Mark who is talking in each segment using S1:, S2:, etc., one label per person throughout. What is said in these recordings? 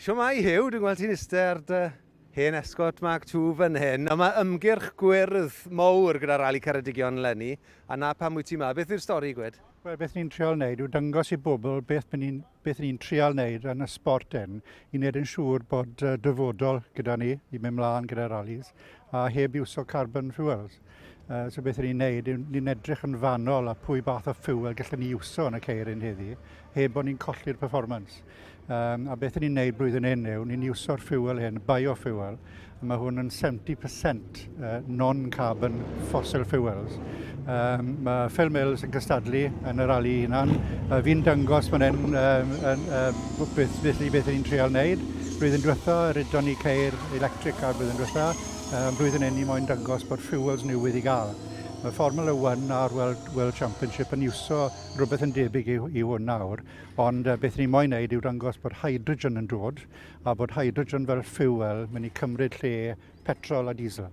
S1: Shwmae Huw, dwi'n gweld ti'n iste ar dy hen Escort Mark ii fan hyn, ond mae ymgyrch gwyrdd mowr gyda Rali Ceredigion leni, a 'na pam wyt ti 'ma. Beth yw'r stori gwed? Wel, beth ni'n trial wneud
S2: yw dangos i bobl beth by ni'n, beth ni'n trial wneud yn y sport hyn i wneud yn siŵr bod dyfodol gyda ni i mynd mlaen gyda ralis a heb iwso carbon fuels. Uh, so beth ni'n neud, ni'n edrych yn fanol a pwy bath o ffuel gallwn ni iwso yn y ceiryn heddi, heb bod ni'n colli'r performance. Um, a beth ni'n neud blwyddyn hyn yw, ni'n iwso'r ffuel hyn, biofuel, a mae hwn yn 70% uh, non-carbon fossil fuels. Um, mae Phil Mills yn cystadlu yn yr ali hunan. Uh, fi'n dangos fan hyn um, um, um, beth, beth, beth ni'n treol wneud. Blwyddyn diwetha, rydon ni ceir electric ar blwyddyn diwetha. Ym mhlwyddyn hyn ni moyn dangos bod fuels newydd i gael. Mae Formula One a'r World, World Championship yn iwso rhywbeth yn debyg i, i hwn nawr, ond uh, beth ni'n moyn wneud yw dangos bod hydrogen yn dod a bod hydrogen fel fuel mynd i cymryd lle petrol a diesel.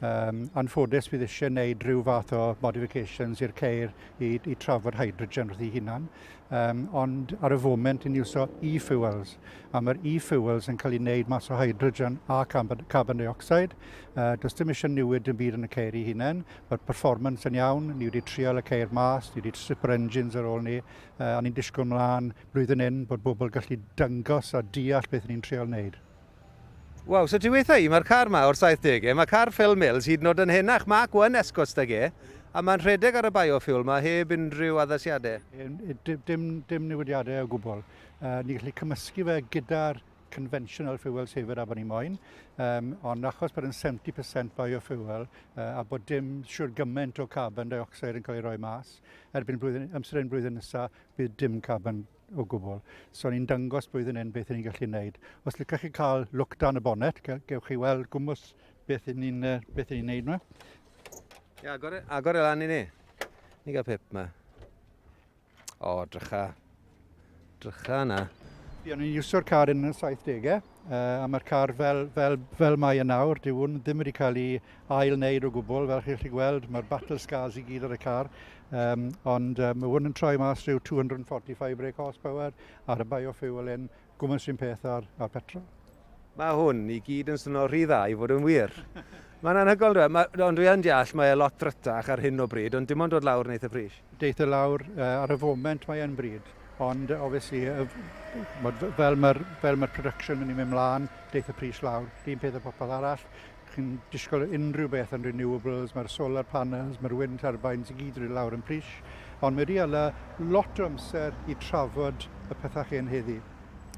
S2: Um, anffodus bydd eisiau gwneud rhyw fath o modifications i'r ceir i, i trafod hydrogen wrth ei hunan, um, ond ar y foment ni'n iwso e-fuels. a mae'r e-fuels yn cael ei wneud mas o hydrogen a carbon, carbon dioxide. Uh, does dim eisiau newid yn byd yn y ceir i hunain. Mae'r performance yn iawn, ni wedi trial y ceir mas, ni wedi stripper engines ar ôl ni, uh, a ni'n disgwyl mlaen blwyddyn hyn bod bobl gallu dyngos a deall beth ni'n trial wneud. Waw,
S1: so ti weitha i, mae'r car ma o'r 70au, mae car Phil Mills hyd yn oed yn henach, Mark 1 Escorts da ge, A mae'n rhedeg ar y biofuel mae heb unrhyw addasiadau? Dim, dim,
S2: dim newidiadau o gwbl. Uh, ni'n gallu cymysgu fe gyda'r conventional fuel saver a bod ni moyn, um, ond achos bod yn 70% biofuel uh, a bod dim siwr gymaint o carbon dioxide yn cael ei roi mas, erbyn blwyddyn, amser yn blwyddyn nesaf, bydd dim carbon o gwbl. So ni'n dangos blwyddyn hyn beth ni'n gallu gwneud. Os licach chi cael look dan y bonnet, gewch chi weld gwmwys beth ni'n ni, uh, beth ni wneud yma. Ia,
S1: agor, e, agor e lan i ni. Ni gael pip yma. O, drycha. Drycha yna. Fi o'n
S2: i'n iwsio'r car yn y 70au, uh, a mae'r car fel, fel, fel mae yn nawr, dyw hwn ddim wedi cael ei ail wneud o gwbl, fel chi'ch chi gweld, mae'r battle scars i gyd ar y car, um, ond um, mae hwn yn troi mas rhyw 245 brake horsepower ar y biofuel yn Gwmws un peth â'r petrol. Mae hwn
S1: i gyd yn swnio rhy dda i fod yn wir. Mae'n anhygoel yndyw e? Ma, ond dwi yn deall mae e lot ddrytach ar hyn o bryd, ond dim ond dod lawr yn eitha pris. Deith e lawr
S2: uh, ar y foment mae e'n bryd, ond obviously uh, fel mae'r fel ma production yn mynd mlaen, deith y pris lawr. Dyn peth o popeth arall, Chi'n disgwyl unrhyw beth yn renewables, mae'r solar panels, mae'r wind turbines i gyd wedi lawr yn pris, ond mae wedi ala lot o amser i trafod y pethau chi yn heddi.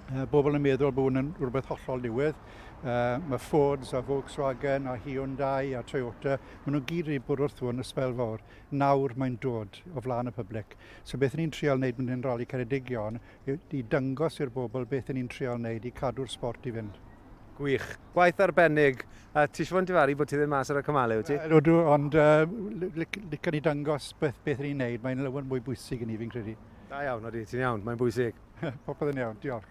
S2: Uh, bobl yn meddwl bod hwn yn rhywbeth hollol diwedd. Uh, mae Fords a Volkswagen a Hyundai a Toyota, maen nhw'n gyd wedi bod wrth hwn y sbel fawr. Nawr mae'n dod o flaen y public. So beth ni'n trial wneud mynd i'n rali Ceredigion i, i dangos i'r bobl beth ni'n trial wneud i cadw'r sport i fynd. Gwych. Gwaith
S1: arbennig. A ti eisiau fod yn difaru bod ti ddim mas ar y cymalau, wyt ti? Wel, ydw, ond
S2: uh, licen i dangos beth, beth ni'n neud. Mae'n lawer mwy bwysig i ni, fi'n
S1: credu.
S2: Da
S1: iawn,
S2: oeddi, ti'n
S1: iawn.
S2: Mae'n bwysig.
S1: Popeth
S2: yn iawn,
S1: diolch.